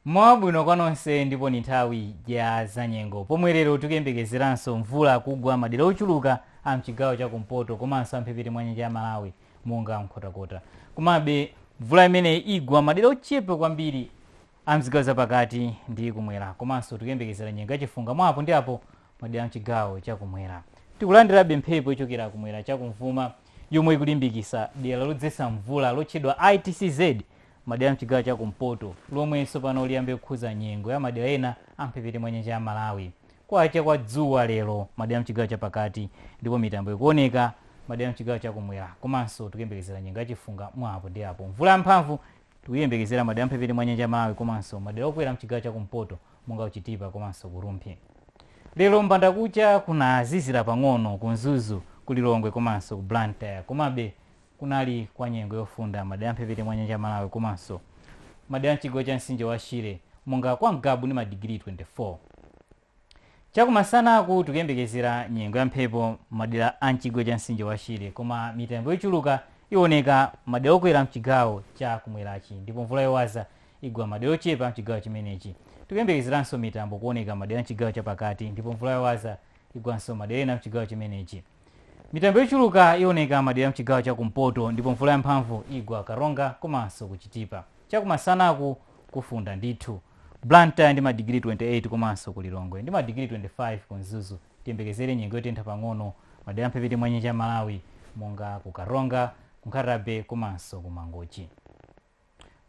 Mmawa wabwino kwa nonse ndipo ndi nthawi ya zanyengo pomwe lero tikuyembekezeranso mvula kugwa madera ochuluka a mchigawo cha kumpoto komanso a mphepete mwa nyanja ya Malawi monga Nkhotakota. Komabe mvula imeneyi igwa madera ochepa kwambiri a mzigawo zapakati ndi kumwera komanso tikuyembekezera nyengo ya chifunga mwa apo ndi apo madera a mchigawo cha kumwera. Tikulandirabe mphepo yochokera kumwera cha kumvuma yomwe ikulimbikisa dera lodzetsa mvula lotchedwa ITCZ Madera a m'chigawo cha kumpoto, lomwe tsopano liyambe kukhudza nyengo ya madera ena a m'mphepete mwa nyanja ya Malawi. Kwacha kwa dzuwa lero madera a m'chigawo cha pakati ndipo mitambo ikuoneka madera a m'chigawo cha kumwera komanso tikuyembekezera nyengo ya chifunga mwa apo ndi apo. Mvula yamphamvu tikuyiyembekezera madera a m'mphepete mwa nyanja ya Malawi komanso madera okwera m'chigawo cha kumpoto monga ku Chitipa komanso ku Rumphi. Lero m'bandakucha kunazizira pang'ono ku Mzuzu, ku Lilongwe komanso ku Blantyre. Komabe kunali kwa nyengo yofunda madera amphepete mwa nyanja ya Malawi komanso madera amchigawo cha mtsinje wa Shire monga kwa Ngabu ndi madigiri 24. Chakumasanaku tikuyembekezera nyengo ya mphepo madera a mchigawo cha mtsinje wa Shire koma mitambo yochuluka iwoneka madera okwera mchigawo cha kumwerachi ndipo mvula yowaza igwa madera ochepa mchigawo chimenechi. Tikuyembekezeranso mitambo kuoneka madera mchigawo cha pakati ndipo mvula yowaza igwanso madera ena mchigawo chimenechi. Mitambo yochuluka ioneka madera a mchigawo cha kumpoto ndipo mvula yamphamvu igwa Karonga komanso ku Chitipa. Chakumasanaku kufunda ndithu. Blantyre ndi madigiri 28 komanso ku Lilongwe ndi madigiri 25 ku Mzuzu tiyembekezere nyengo yotentha pang'ono madera a mphepete mwa nyanja ya Malawi monga ku Karonga, ku Nkhata-bay komanso ku Mangochi.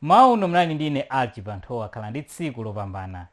M'mawa uno munali ndi ine Alick Chibanthowa khalani ndi tsiku lopambana.